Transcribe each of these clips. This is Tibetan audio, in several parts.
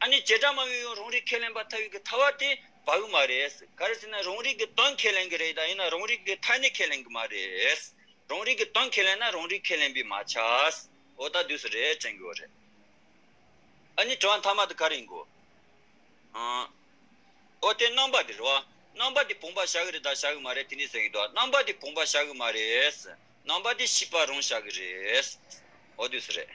ཨ་ནི་བྱེ་བྲག་མ་ཡིན་ཡང་རང་རིགས་ཁས་ལེན་པ་མཐའ་ཡུལ་གྱི་མཐའ་བ་དེ་བ་ཡུལ་མ་རེད། ག་རེ་ཟེར་ན་རང་རིགས་ཀྱི་དོན་ཁས་ལེན་གྱི་རེད་ད་ཡིན་ན་རང་རིགས་ཀྱི་མཐའ་ནི་ཁས་ལེན་གྱི་མ་རེད། རང་རིགས་ཀྱི་དོན་ཁས་ལེན་ན་རང་རིགས་ཁས་ལེན་པའི་མ་ཆགས། འོ་ད་དུས་སུ་རེད་དྲན་དགོས་རེད། ཨ་ནི་དྲི་བ་མཐའ་མ་དེ་ག་རེ་ཡིན་དགོས། འོ་དེ་རྣམ་པ་དེ་རེད་བ། རྣམ་པ་དེ་བུམ་པ་བཞག་གི་རེད་ད་བཞག་གི་མ་རེད་དེ་འདྲས་ཟེར་གྱི་འདུག་རྣམ་པ་དེ་བུམ་པ་བཞག་གི་མ་རེད། རྣམ་པ་དེ་ཤི་བ་རང་བཞག་གི་རེད། འོ་དུས་སུ་རེད།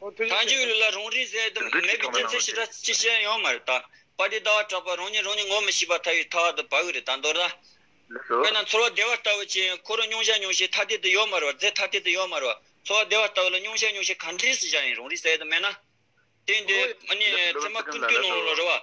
གང་ཅིའི་ལུས་ལ་རང་རིག་གཟེར་ཟླུམ་མེད་པའི་སྐྱེ་མཚན་ཞི་དྲག་ཅི་ཤེས་ཡང་མ་རིག་ལྟ་བ་དེ་ལྟ་བ་གྲགས་པ་རང་ཉིད་རང་ཉིད་ངོ་མི་ཤེས་པ་ཐ་ཡི་ཐ་བ་དུ་བབས་ཀྱི་རེད་ད་མདོར་ན། དཔེར་ན་ཚོར་བ་བདེ་བ་ལྟ་བུ་ཅན་ཁོ་རང་མྱོང་བྱ་མྱོང་བྱེད་ཐ་དད་དུ་ཡོད་མ་རུང་བ་རྫས་ཐ་དད་དུ་ཡོད་མ་རུང་བ་ཚོར་བ་བདེ་བ་ལྟ་བུ་ལ་མྱོང་བྱ་མྱོང་བྱེད་གང་འདྲའི་སྲིད་བྱ་ཡིན་རང་རིག་གཟེར་ཟླུམ་མེད་ན། དེ་འདི་ནི་ཚད་མ་ཀུན་བཏུས་ནང་ལོགས་ལ་རོལ་བ་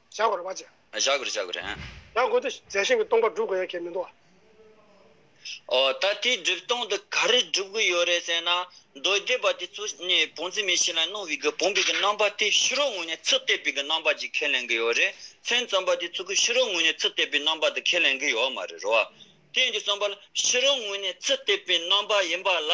བཞག་དགོས་རེད་བ་ཅན། བཞག་དགོས་རེད་བཞག་དགོས་རེད་ཨང། བཞག་དགོས་ཏེ་རྫས་ཤིང་གི་སྟོང་པ་བསྒྲུབ་དགོས་ཡ་གལ་མི་འདུག་བ། ཨོ། ད་དེའི་སྒྲིབ་སྟོང་དེ་ག་རེ་བསྒྲུབ་དགོས་ཡོད་རེད་ཟེར་ན། མདོ་སྡེ་པ་དེ་ཚོ་ནི་བོང་རྫི་མའི་ཤི་ལ་སྣང་བའི་གི་བོང་བུ་གི་རྣམ་པ་དེ་ཤི་རོ་ངོས་ནས་ཚུར་བལྟས་པའི་གི་རྣམ་པ་ཅིག་ཁས་ལེན་གི་ཡོད་རེད་མཚན་བཙོམ་པ་དེ་ཚོ་གི་ཤི་རོ་ངོས་ནས་ཚུར་བལྟས་པའི་རྣམ་པ་དེ་ཁས་ལེན་གི་ཡོད་མ་རེད་རོ། དེང་གི་བསམ་པ་ལ་ཤི་རོ་ངོས་ནས་ཚུར་བལྟས་པའི་རྣམ་པ་ཡིན་པ་ལ།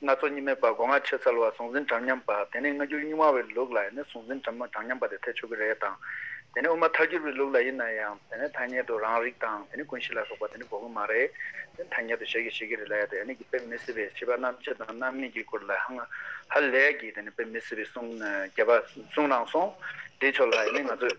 སྣ་ཚོགས་གཉིས་མེད་པ་སྒོ་ང་ཕྱེད་ཚལ་བ་གཟུང་འཛིན་གྲངས་མཉམ་པ་དེ་ནི་སྔ་འགྱུར་རྙིང་བ་བའི་ལུགས་ལ་ཡིན་ན་གཟུང་འཛིན་གྲངས་མཉམ་པ་དེ་ཐལ་ཆོག་གི་རེད་དང། དེ་ནི་དབུ་མ་ཐལ་འགྱུར་བའི་ལུགས་ལ་ཡིན་ན་ཡང་དེ་ནི་ཐ་སྙད་དུ་རང་རིག་དང་དེ་ནི་ཀུན་གཞི་ལ་སོགས་པ་དེ་ནི་གོ་གི་མ་རེད། དེ་ནི་ཐ་སྙད་དུ་བྱེད་ཀྱི་བྱེད་ཀྱི་རེད་ལ་ཡ་དེ་ནི་གི་དཔེ་མི་སྲིད་པས་བྱེད་པ་རྣམ་བཅད་དང་རྣམ་མེད་ཀྱི་སྐོར་ལ་ཧང་ཧ་ལས་ཀྱི་དེ་ནི་དཔེ་མི་སྲིད་པའི་གསུང་རྒྱབ་པ་གསུང་རང་སོང་དེའི་ཕྱོགས་ལ་ཡ་ནི་ང་ཚོས།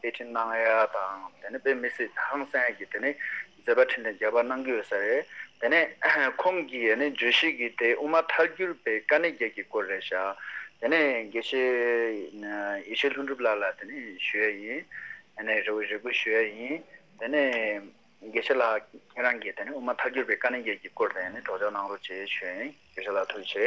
པེ་ཅིན་གནང་ཨེ་ཨ་དང་དེ་ནས་པེ་མི་སི་ཧང་སན་གྱིས་དེ་ནས་མཛད་པ་ཕྲིན་ལས་བརྒྱ་པ་གནང་གི་ཡོད་ས་རེད་དེ་ནས་ཁོང་གིས་ཡེ་ནས་བརྗོད་གཞི་གི་དེ་དབུ་མ་མཐར་གྱུར་པའི་དཀའ་གནད་བརྒྱད་ཀྱི་སྐོར་རེད་ཤག་དེ་ནས་དགེ་ཆེ་ཡེ་ཤེས་ལྷུན་གྲུབ་ལགས་ལ་དེ་ནས་ཞུ་ཡས་ཡིན་དེ་ནས་རེ་རེ་བསྐུལ་ཞུ་ཡས་ཡིན་དེ་ནས་དགེ་ཆེ་ལགས་ཁྱེད་རང་གིས་དེ་ནས་དབུ་མ་མཐར་གྱུར་པའི་དཀའ་གནད་བརྒྱད་ཀྱི་སྐོར་དེ་ནས་གྲོགས་ཆོག་གནང་རོགས་བྱས་ཞུ་ཡས་ཡིན་དགེ་ཆེ་ལགས་ཐུགས་ཆེ།